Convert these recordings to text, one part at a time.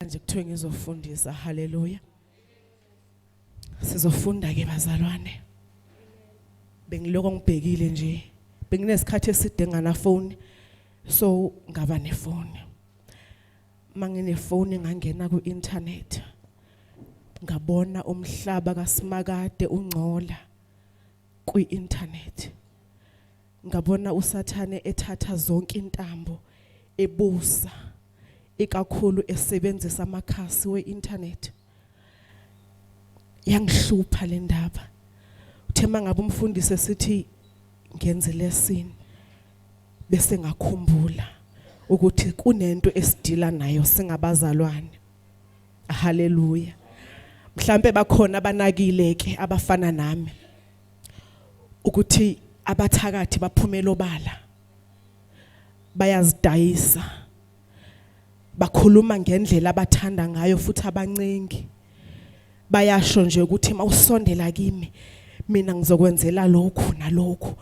manje kuthiwe ngizofundisa haleluya sizofunda ke bazalwane bengiloko ngibhekile nje benginesikhathi eside ngana phone so ngaba nefoni manginefoni ngangena ku internet ngabona umhlaba kaSimakade ungcola kwi internet Ngabona uSathane ethatha zonke intambo ebusa ikakhulu esebenzisa amakhasi we-internet. Yangihlupha le ndaba. Uthe mangabe umfundisi esithi ngenze lesson bese ngakhumbula ukuthi kunento esidila nayo singabazalwane. Haleluya. Mhlambe bakhona abanakile ke abafana nami. ukuthi abathakathi baphumela obala bayazidayisa bakhuluma ngendlela abathanda ngayo futhi abancengi bayasho nje ukuthi mawusondela kimi mina ngizokwenzela lokhu nalokhu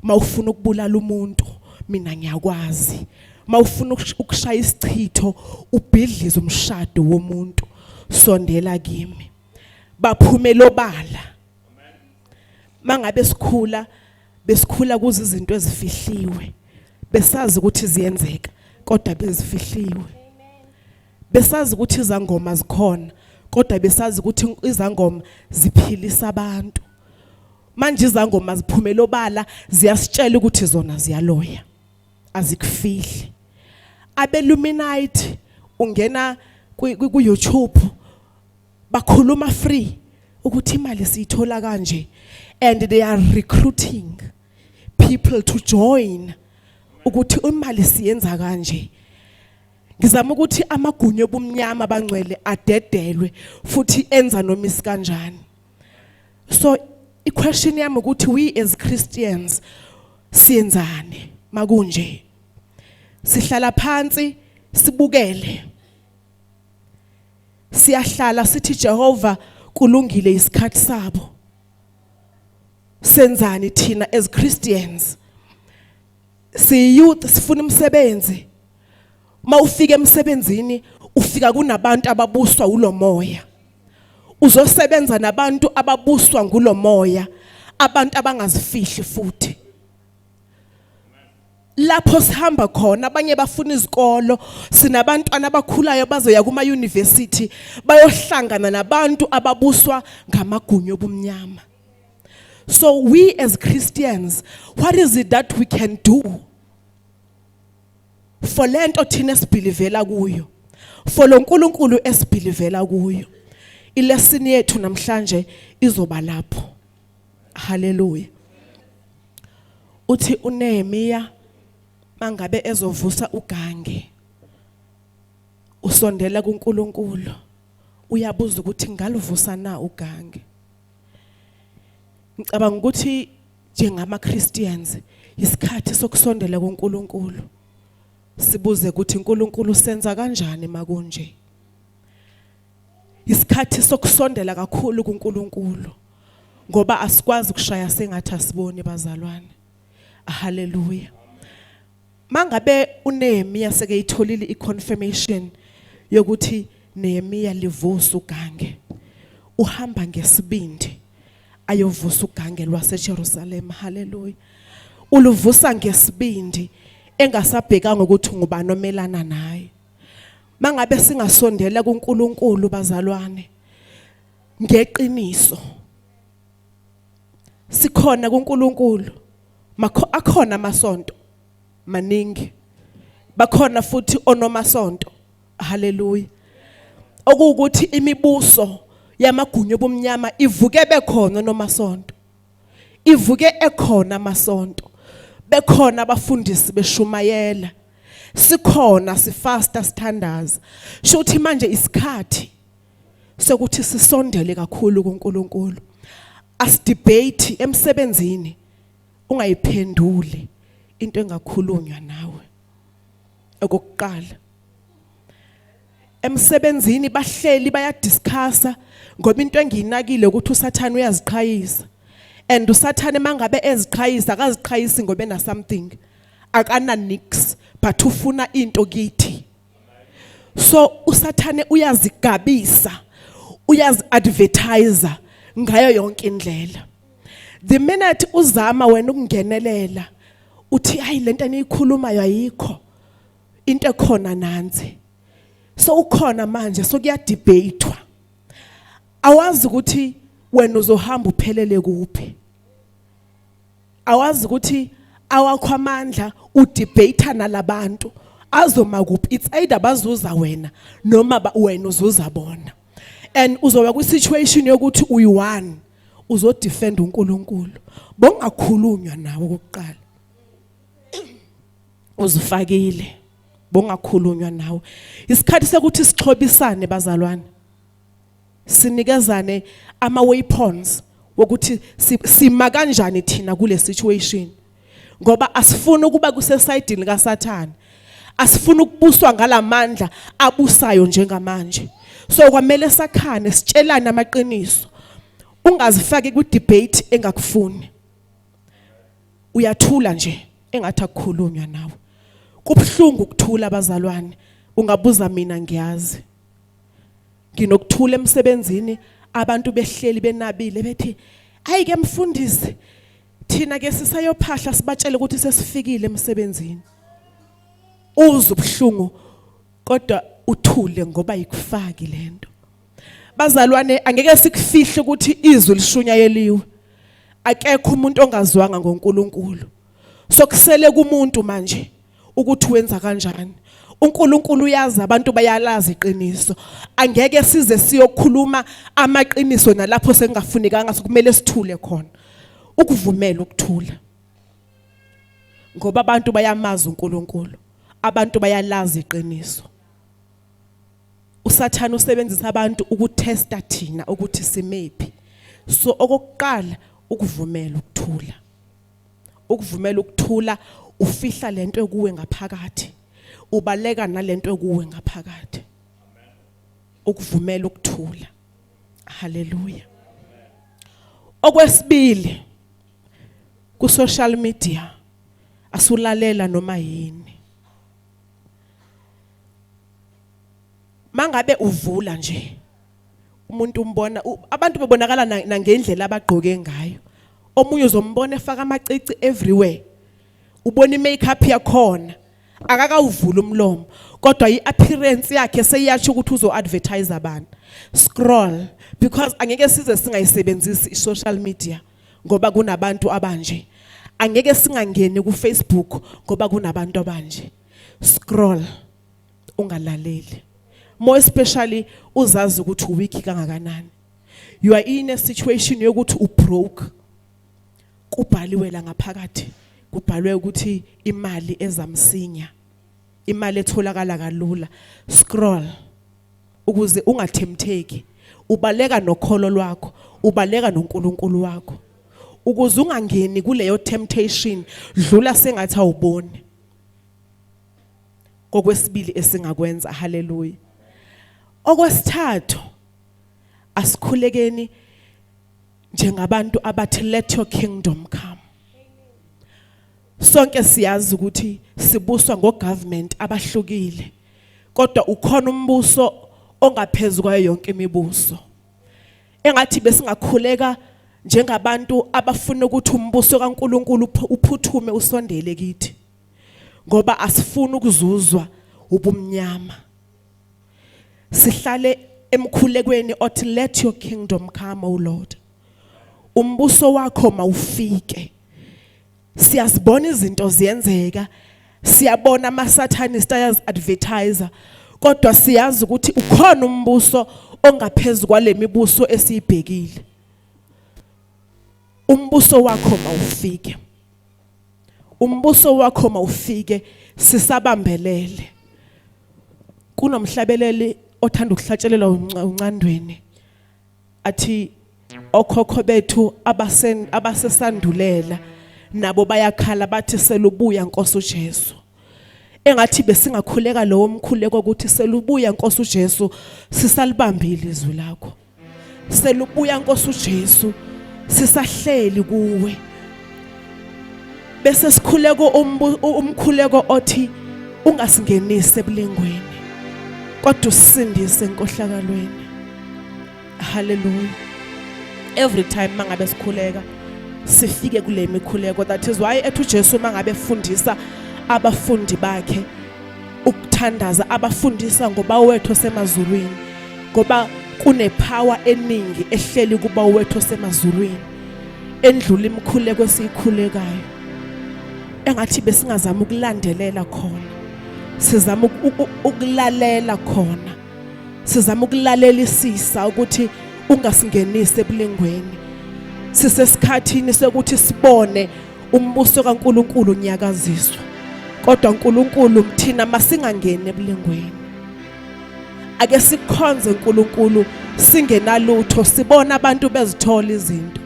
mawufuna ukubulala umuntu mina ngiyakwazi mawufuna ukushaya isichitho ubhidliza umshado womuntu sondela kimi baphumela obala mangabe sikhula besikhula kuze izinto ezifihliwe besazi ukuthi ziyenzeka kodwa bezifihliwe besazi ukuthi izangoma zikhona kodwa besazi ukuthi izangoma ziphilisa abantu manje izangoma ziphumela obala ziyasitshela ukuthi zona ziyaloya azikufihli abeluminite ungena ku YouTube bakhuluma free ukuthi imali siyithola kanje and they are recruiting people to join ukuthi imali siyenza kanje ngizama ukuthi amagunyo obumnyama bangcwele adedelwe futhi enza noma isikanjani so i question yami ukuthi we as Christians siyenzani makunje sihlala phansi sibukele siyahlala sithi Jehova kulungile isikhathi sabo senzani thina as Christians si youth sifuna umsebenzi mawufika emsebenzini ufika kunabantu ababuswa ulomoya uzosebenza nabantu ababuswa ngulomoya abantu abangazifihli futhi lapho sihamba khona abanye bafuna izikolo sinabantwana abakhulayo bazoya kuma university bayohlangana nabantu ababuswa ngamagunyo obumnyama so we as Christians what is it that we can do for lento thina sibhilivela kuyo for lo nkulunkulu esibhilivela kuyo ilesini yethu namhlanje izoba lapho Haleluya. Uthi uNehemiya mangabe ezovusa ugange usondela kuNkulunkulu uyabuza ukuthi ngaluvusa na ugange. Ngicabanga ukuthi njengama Christians isikhathi sokusondela kuNkulunkulu sibuze ukuthi uNkulunkulu senza kanjani makunje isikhathi sokusondela kakhulu kuNkulunkulu ngoba asikwazi ukushaya sengathi asiboni bazalwane haleluya mangabe uNehemiya sekeyitholile iconfirmation yokuthi Nehemiya livusa ugange uhamba ngesibindi ayovusa ugange lwaseJerusalem haleluya uluvusa ngesibindi engasabhekanga ukuthi ngubani omelana naye Mangabe singasondela kuNkulunkulu bazalwane ngeqiniso. Sikhona kuNkulunkulu. Makho akhona amasonto maningi. Bakhona futhi onomasonto. Hallelujah. Okuwukuthi imibuso yamagunya obumnyama ivuke bekhona nomasonto. ivuke ekhona amasonto bekhona abafundisi beshumayela sikhona sifasta sithandaza sho ukuthi manje isikhathi sokuthi sisondele kakhulu kuNkulunkulu asidebate emsebenzini ungayiphenduli into engakhulunywa nawe okokuqala emsebenzini bahleli bayadiscussa ngoba into engiyinakile ukuthi usathane uyaziqhayisa and usathane mangabe eziqhayisa akaziqhayisi ngoba ena something akana nix but ufuna into kithi so usathane uyazigabisa uyazi advertiser ngayo yonke indlela the minute uzama wena ukungenelela uthi hayi lento eniyikhulumayo ayikho into ekhona nansi so ukhona manje so kuyadebatwa awazi ukuthi wena uzohamba uphelele kuphi awazi ukuthi awakho amandla udebate nalabantu azoma kuphi it's either bazuza wena noma wena uzuza bona and uzoba kwi situation yokuthi uyi one uzodefend uNkulunkulu bongakhulunywa nawe kokuqala uzifakile bongakhulunywa nawe isikhathi sokuthi sixhobisane bazalwane sinikezane ama weapons wokuthi sima kanjani thina kule situation ngoba asifuni ukuba kusesayidini kaSathane asifuna ukubuswa ngalamandla abusayo njengamanje so kwamele sakhane sitshelane amaqiniso ungazifaki ku debate engakufuni uyathula nje engathi akukhulunywa nawe kubuhlungu ukuthula abazalwane ungabuza mina ngiyazi nginokuthula emsebenzini abantu behleli benabile bethi ayi ke mfundisi thina ke sisayophahla sibatshele ukuthi sesifikile emsebenzini uzubuhlungu kodwa uthule ngoba ikufaki lento Bazalwane angeke sikufihle ukuthi izwi lishunyayeliwe. Akekho umuntu ongazwanga ngoNkulunkulu. Sokusele kumuntu manje ukuthi wenza kanjani. uNkulunkulu uyazi abantu bayalazi iqiniso angeke size siyokhuluma amaqiniso nalapho sengafunekanga sokumele sithule khona ukuvumela ukuthula ngoba abantu bayamazi uNkulunkulu abantu bayalazi iqiniso usathane usebenzisa abantu ukutesta thina ukuthi simephi so okokuqala ukuvumela ukuthula ukuvumela ukuthula ufihla lento ekuwe ngaphakathi ubaleka nalento ekuwe ngaphakathi ukuvumela ukuthula haleluya okwesibili ku social media asulalela noma yini mangabe uvula nje umuntu umbona abantu bebonakala nangendlela abagqoke ngayo omunye uzombona efaka amacici everywhere ubona imakeup yakhona akakawuvula umlomo kodwa iappearance yakhe seyiyasho ukuthi uzoadvertise abantu scroll because angeke size singayisebenzisi isocial media ngoba kunabantu abanje angeke singangeni kuFacebook ngoba kunabantu abanje scroll ungalaleli more especially uzazi ukuthi uweak kangakanani you are in a situation yokuthi u broke kubhaliwe la ngaphakathi kubhalwe ukuthi imali ezamsinya imali etholakala kalula scroll ukuze ungathemtheki ubaleka nokholo lwakho ubaleka noNkulunkulu wakho ukuze ungangeni kuleyo temptation dlula sengathi awuboni kokwesibili esingakwenza haleluya okwesithathu asikhulekeni njengabantu abathi let your kingdom come sonke siyazi ukuthi sibuswa ngogovernment abahlukile kodwa ukhona umbuso ongaphezulu kwayo yonke imibuso engathi besingakhuleka njengabantu abafuna ukuthi umbuso kaNkuluNkulu uphuthume usondele kithi ngoba asifuni ukuzuzwa ubumnyama sihlale emkhulekweni othi let your kingdom come o lord umbuso wakho mawufike siyazibona izinto ziyenzeka siyabona amasathanist ayazi advertiser kodwa siyazi ukuthi ukhona umbuso ongaphezulu kwalemibuso esiyibhekile umbuso wakho mawufike umbuso wakho mawufike sisabambelele kunomhlabeleli othanda ukuhlatshelelwa uncandweni athi okhokho bethu abasen abasesandulela nabo bayakhala bathi selubuya Nkosi uJesu engathi besingakhuleka lowo mkhuleko ukuthi selubuya Nkosi uJesu sisalibambile izwi lakho selubuya Nkosi uJesu sisahleli kuwe bese sikhuleko umkhuleko othi ungasingenise ebulingweni kodwa usindise enkohlakalweni haleluya every time mangabe sikhuleka sifike kule mikhuleko that is why ethu Jesu mangabe fundisa abafundi bakhe ukuthandaza abafundisa ngoba wethu osemazulwini ngoba kunepower eningi ehleli kuba wethu osemazulwini endlula imikhuleko esiyikhulekayo engathi besingazama ukulandelela khona sizama ukulalela khona sizama ukulalelisisa ukuthi ungasingenisi ebulengweni sisesikhathini sokuthi sibone umbuso kaNkuluNkulu unyakaziswa kodwa uNkuluNkulu mthina masingangeni ebulengweni ake sikhonze uNkulunkulu singenalutho sibona abantu bezithola izinto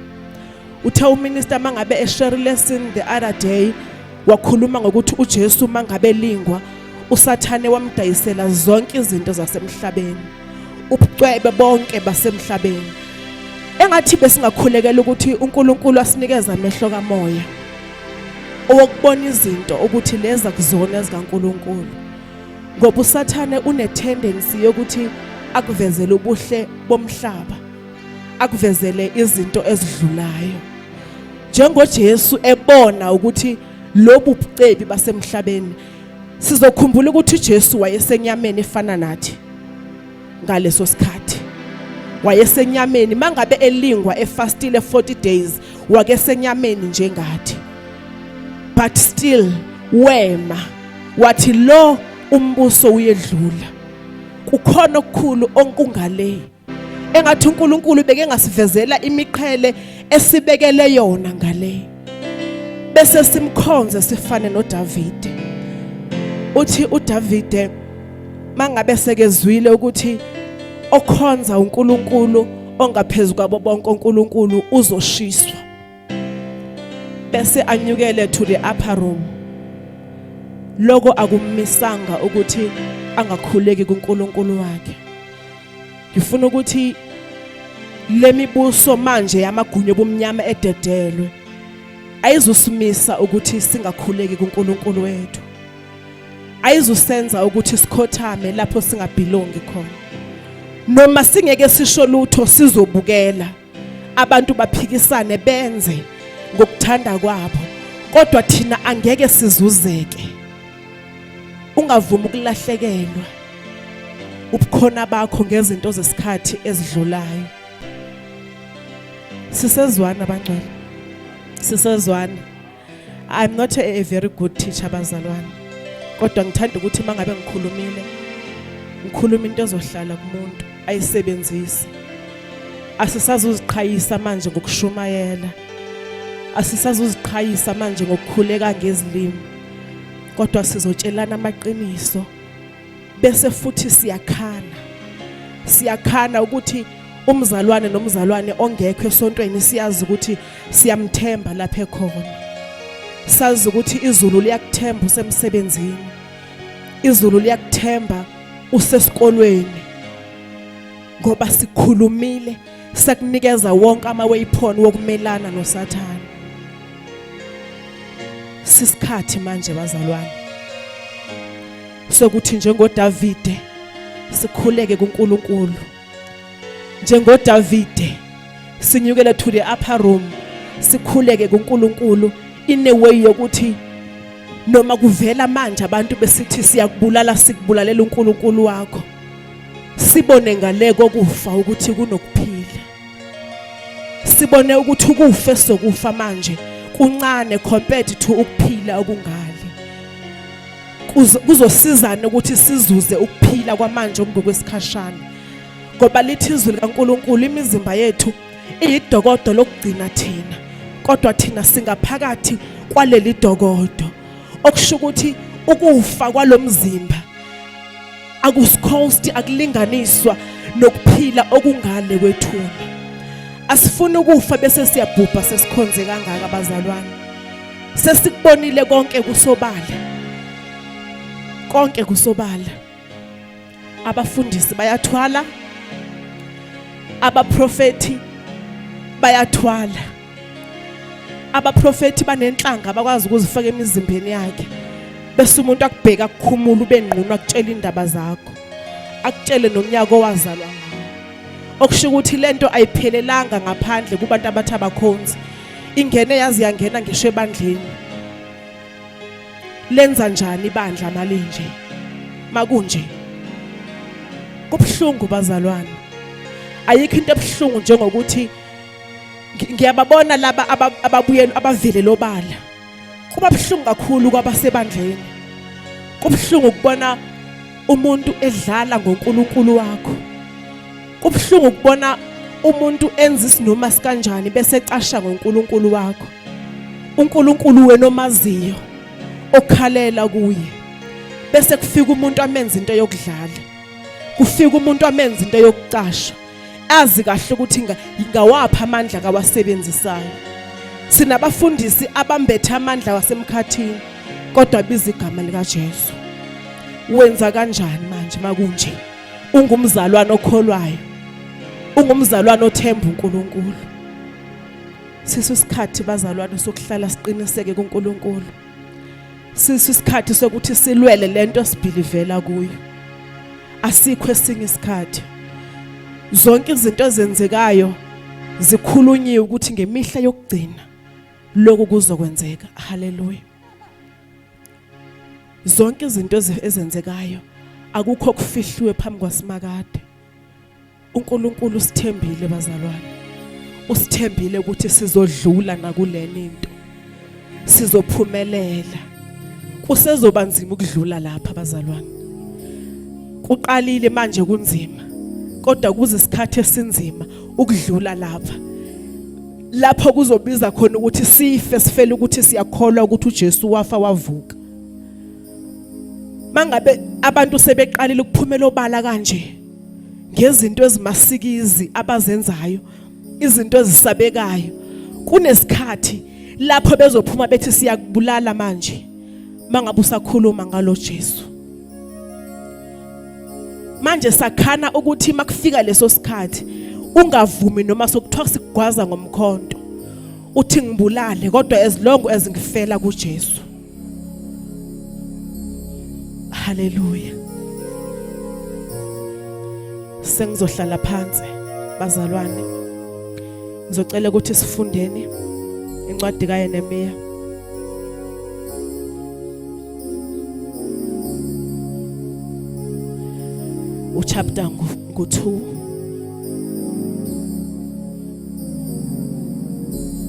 uthe uminister mangabe eshare lesson the other day wakhuluma ngokuthi uJesu mangabe lingwa usathane wamdayisela zonke izinto zasemhlabeni ubucwebe bonke basemhlabeni engathi besingakhulekela ukuthi uNkulunkulu asinikeza amehlo kamoya owokubona izinto ukuthi leza kuzona ezikaNkuluNkulu ngoba usathane unetendency yokuthi akuvezele ubuhle bomhlaba akuvezele izinto ezidlulayo njengoJesu ebona ukuthi lobu bucebi basemhlabeni sizokhumbula ukuthi uJesu wayesenyameni efana nathi ngaleso sikhathi wayesenyameni mangabe elingwa efastile 40 days wake senyameni njengathi but still wema wathi lo umbuso uyedlula kukhona okukhulu onkungale engathi uNkulunkulu beke ngasivezela imiqhele esibekele yona ngale bese simkhonze sifane noDavide uthi uDavide mangabe sekezwile ukuthi okhonza uNkulunkulu ongaphezulu kwabo bonke uNkulunkulu uzoshiswa bese anyukele to the upper room lokho akumisanga ukuthi angakhuleki kuNkulunkulu wakhe ngifuna ukuthi lemibuso manje yamagunya obumnyama ededelwe ayizusimisa ukuthi singakhuleki kuNkulunkulu wethu ayizusenza ukuthi sikhothame lapho singabhilongi khona noma singeke sisho lutho sizobukela abantu baphikisane benze ngokuthanda kwabo kodwa thina angeke sizuzeke ungavumi ukulahlekelwa ubukhona bakho ngezinto zesikhathi ezidlulayo sisezwana bangcwele sisezwana I'm not a, a very good teacher bazalwane. Kodwa ngithanda ukuthi mangabe ngikhulumile ngikhuluma into ezohlala kumuntu ayisebenzise. Asisazuziqhayisa manje ngokushumayela. Asisazuziqhayisa manje ngokukhuleka ngezilimi. Kodwa sizotshelana amaqiniso. bese futhi siyakhana siyakhana ukuthi umzalwane nomzalwane ongekho esontweni siyazi ukuthi siyamthemba lapha ekhona sazi ukuthi izulu liyakuthemba usemsebenzini izulu liyakuthemba usesikolweni ngoba sikhulumile sakunikeza wonke ama waypoint wokumelana noSathane sisikhathi manje bazalwane sokuthi njengoDavide sikhuleke kuNkulunkulu njengoDavide sinyukele to the upper room sikhuleke kuNkulunkulu in a way yokuthi noma kuvela manje abantu besithi siyakubulala sikubulalela uNkulunkulu wakho sibone ngale kokufa ukuthi kunokuphila sibone ukuthi ukufa sokufa manje kuncane compared to ukuphila okungaka kuzosizana ukuthi sizuze ukuphila kwamanje okungokwesikhashana ngoba lithi izwi likaNkuluNkulu imizimba yethu iyidokodo lokugcina thina kodwa thina singaphakathi kwaleli dokodo okusho ukuthi ukufa kwalomzimba akusikhosti akulinganiswa nokuphila okungale kwethuna asifuni ukufa bese siyabhubha sesikhonze kangaka bazalwane sesikubonile konke kusobala konke kusobala abafundisi bayathwala abaprofeti bayathwala abaprofeti banenhlanga abakwazi ukuzifaka emizimbeni yakhe bese umuntu akubheka kukhumula ube ngqunu akutshela indaba zakho akutshele nomnyaka owazalwa ngawo okusho ukuthi lento ayiphelelanga ngaphandle kubantu abathi abakhonzi ingene yazi yangena ngisho ebandleni lenza njani ibandla malinje makunje kubuhlungu bazalwane ayikho into ebuhlungu njengokuthi ngiyababona laba ababuyela abavile lobala kuba buhlungu kakhulu kwabasebandleni kubuhlungu ukubona umuntu edlala ngoNkulunkulu wakho kubuhlungu ukubona umuntu enza isinoma sikanjani bese ecasha ngoNkulunkulu wakho uNkulunkulu wena omaziyo okhalela kuye bese kufika umuntu amenza into yokudlala kufika umuntu amenza into yokucasha azi kahle ukuthi ngawaphi amandla kawasebenzisayo sinabafundisi abambethe amandla wasemkhathini kodwa biza igama likaJesu wenza kanjani manje makunje ungumzalwane okholwayo ungumzalwane othemba uNkulunkulu sisisikhathi bazalwane sokuhlala siqiniseke kuNkulunkulu sisi isikhathi sokuthi silwele lento sibhilivela kuyo asikho esinye isikhathi zonke izinto ezenzekayo zikhulunyiwe ukuthi ngemihla yokugcina lokhu kuzokwenzeka haleluya zonke izinto ezenzekayo akukho kufihlwe phambi kwasimakade uNkulunkulu usithembile bazalwane usithembile ukuthi sizodlula nakuleni into sizophumelela kusezoba nzima ukudlula lapha bazalwane kuqalile manje kunzima kodwa kuze isikhathi esinzima ukudlula lapha lapho kuzobiza khona ukuthi sife sifele ukuthi siyakholwa ukuthi uJesu wafa wavuka mangabe abantu sebeqalile ukuphumela obala kanje ngezinto ezimasikizi abazenzayo izinto ezisabekayo kunesikhathi lapho bezophuma bethi siyakubulala manje mangabe usakhuluma ngalo Jesu manje sakhana ukuthi makufika leso sikhathi ungavumi noma sokuthiwa sigwaza ngomkhonto uthi ngibulale kodwa as long as ngifela kuJesu Haleluya. Sengizohlala phansi bazalwane. Ngizocela ukuthi sifundeni incwadi kaYeremiya. Uchapter ngo-2 Thank you.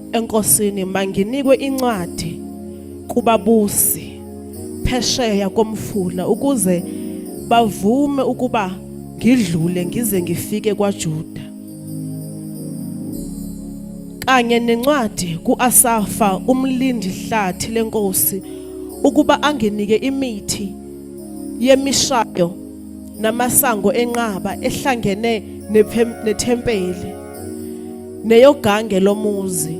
enkosini manginikwe incwadi kubabusi phesheya komfula ukuze bavume ukuba ngidlule ngize ngifike kwaJuda kanye nencwadi kuAsafa umlindi hlathi lenkosi ukuba anginike imithi yemishayo namasango enqaba ehlangene nethempeli neyogange lomuzi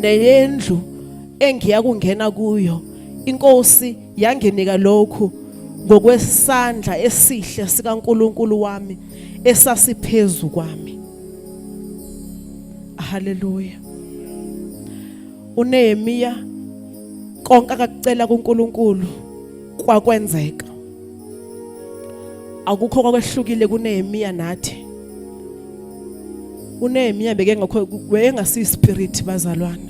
neyendlu engiya kungena kuyo inkosi yanginika lokhu ngokwesandla esihle sikaNkuluNkulu wami esasiphezu kwami haleluya uNehemiya konke akakucela kuNkulunkulu kwakwenzeka akukho kwakwehlukile kuNehemiya nathi uNehemiya bekengekho wayengasi spirit bazalwane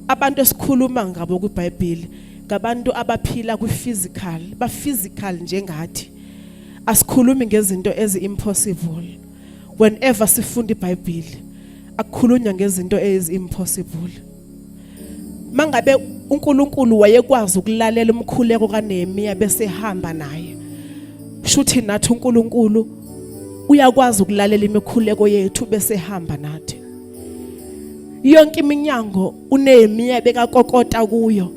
abantu esikhuluma ngabo kwiBhayibheli ngabantu abaphila kwi-physical ba-physical njengathi asikhulumi ngezinto ezi-impossible whenever sifunda ibhayibhile akukhulunywa ngezinto ezi-impossible mangabe uNkulunkulu wayekwazi ukulalela umkhuleko kaNehemiya bese ehamba naye shuthi nathi uNkulunkulu uyakwazi ukulalela imikhuleko yethu bese ehamba nathi yonke iminyango uNehemiya bekakokota kuyo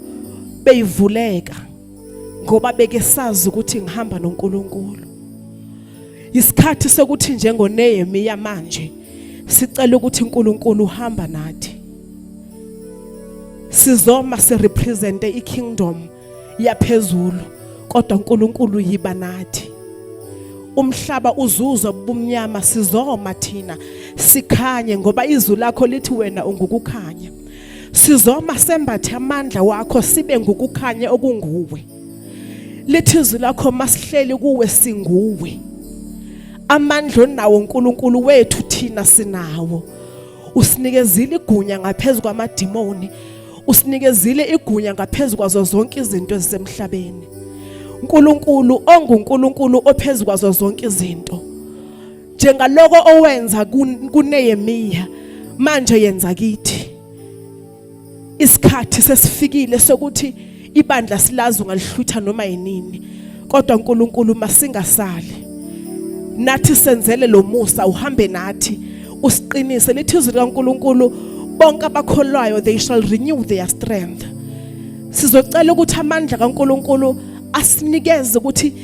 beyivuleka ngoba beke sazi ukuthi ngihamba noNkulunkulu isikhathi sokuthi njengoNehemiya manje sicela ukuthi uNkulunkulu uhamba nathi sizoma sirepresente ikingdom yaphezulu kodwa uNkulunkulu yiba nathi umhlaba uzuzwa ubumnyama sizoma thina sikhanye ngoba izwi lakho lithi wena ungukukhanya sizoma sembathe amandla wakho sibe ngukukhanya okunguwe lithizwi lakho masihleli kuwe singuwe amandla onawo uNkulunkulu wethu thina sinawo usinikezile igunya ngaphezulu kwamadimoni usinikezile igunya ngaphezulu kwazo zonke izinto ezisemhlabeni uNkulunkulu onguNkulunkulu ophezulu kwazo zonke izinto njengaloko owenza kuneyemiya manje yenza kithi isikhathi sesifikile sokuthi ibandla silazi ungalihlutha noma yinini kodwa uNkulunkulu masingasali nathi senzele lo musa uhambe nathi usiqinise lithi izwi likaNkulunkulu bonke abakholwayo they shall renew their strength sizocela ukuthi amandla kaNkuluNkulu asinikeze ukuthi